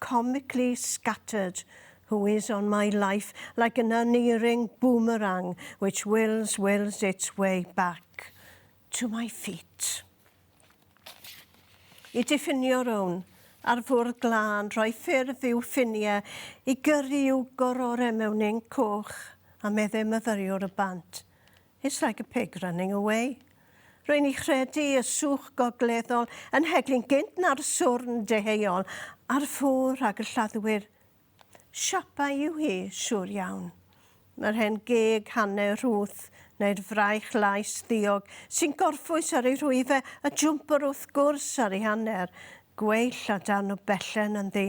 comically scattered who is on my life like an unerring boomerang which wills, wills its way back to my feet. I diffinio rown ar fwrdd glân, rhoi ffurf i'w ffiniau, i gyrru i'w gorore mewn inc coch a meddai myfyriwr y band. It's like a pig running away. Rwy'n i chredu y swch gogleddol yn heglyn gynt na'r swrn deheuol ar ffwr ag y lladdwyr. Siapa yw hi, siŵr iawn. Mae'r hen geg hanner rhwth, neu'r fraich lais ddiog sy'n gorffwys ar ei rhwyfe a jwmpwr wrth gwrs ar ei hanner, gweill a darn o bellen ynddi.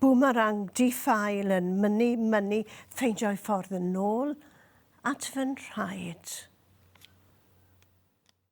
Boomerang di-ffael yn mynnu, mynnu, ffeindio'i ffordd yn ôl at fy nhraed.